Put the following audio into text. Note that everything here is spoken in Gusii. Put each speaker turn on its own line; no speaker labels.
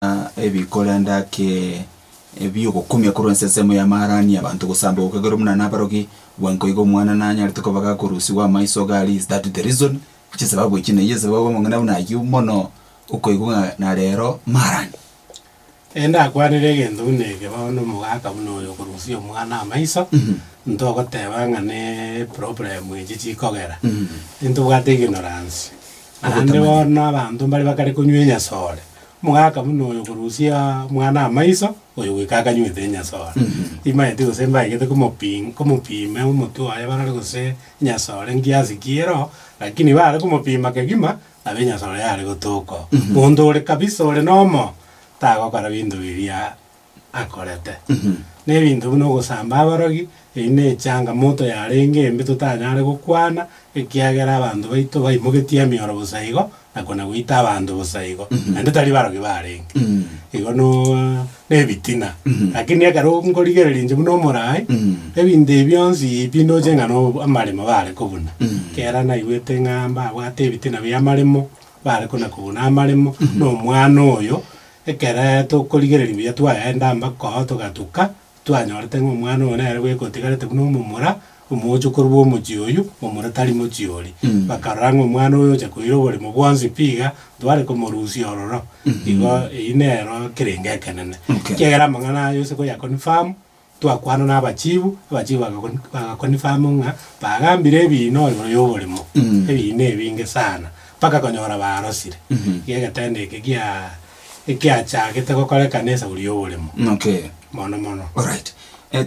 na ebi korende ake ebi'ogokumia korwa ensensemo y'amaarani y'abanto gosamba gokagerwa buna nabarogi, bwango iga omwana nanyarete koba gakorusigwa amaiso iga aria is that the reason? Chisababu echi neyio esababu amang'ana buna ayio mono okoigwa ng'a na rero maarani.
Ndakwanire egento buna eke bono omogaka buna oyo okorusia omwana amaiso ntogoteba ng'a ne problem echi chikogera intobwate ignorance naende Ogotamanya. bono abanto mbare bakare konywa enyasore. Omogaka buna oyo korusia mwana amaiso, oyo goika akanywete enyasore. Timaeti gose mbaegete komopim komopime omotwe oye barore gose enyasore nkiasi ki ero, lakini bare komopima kegima, nabo enyasore yare gotoka oo. Monto ore kabisa ore nomo, tagokora binto biria akorete, na ebinto buna ogosamba abarogi, eyio ne echangamoto yarenge embe totanyare gokwana, ekiagera abanto baito baimogetie emioro bosa igo, na kona goita abanto bosa igo, naende tari barogi barenge. Igo no ne ebitina, lakini ekero nkorigereria inche buna omoraai, ebinto ebi bionsi pi ndoche ng'a no amaremo bare kobuna, kera naigwete ng'a mbabwate ebitina bia amaremo, bare kona kobuna amaremo, na omwana oyo, Ekere tokorigereria buya twaenda mbakoo togatuka, twanyorete ng'a omwana oyo nere bweka otigarete buna omomura omoocho korwa omochie oyio, momura tari mochie oria. Bakarora ng'a omwana oyo ocha koira oborimo bwonsi pi iga, ntware komorusia ororo. Igo eyio nero kerenge ekenene. Ekiagera amang'ana aya ose koyaconfirm, Twakwana n'abachiibu, abachiibu bagakonf- bagakonfirm ng'a bagambire ebiina igoro y'oborimo, ebiina ebinge sana, mpaka konyora barosire. Iga egetendo eke gia ekiachagete
gokorekana
esauri y'oborimo Okay. mono
mono.
Alright. Eh, tari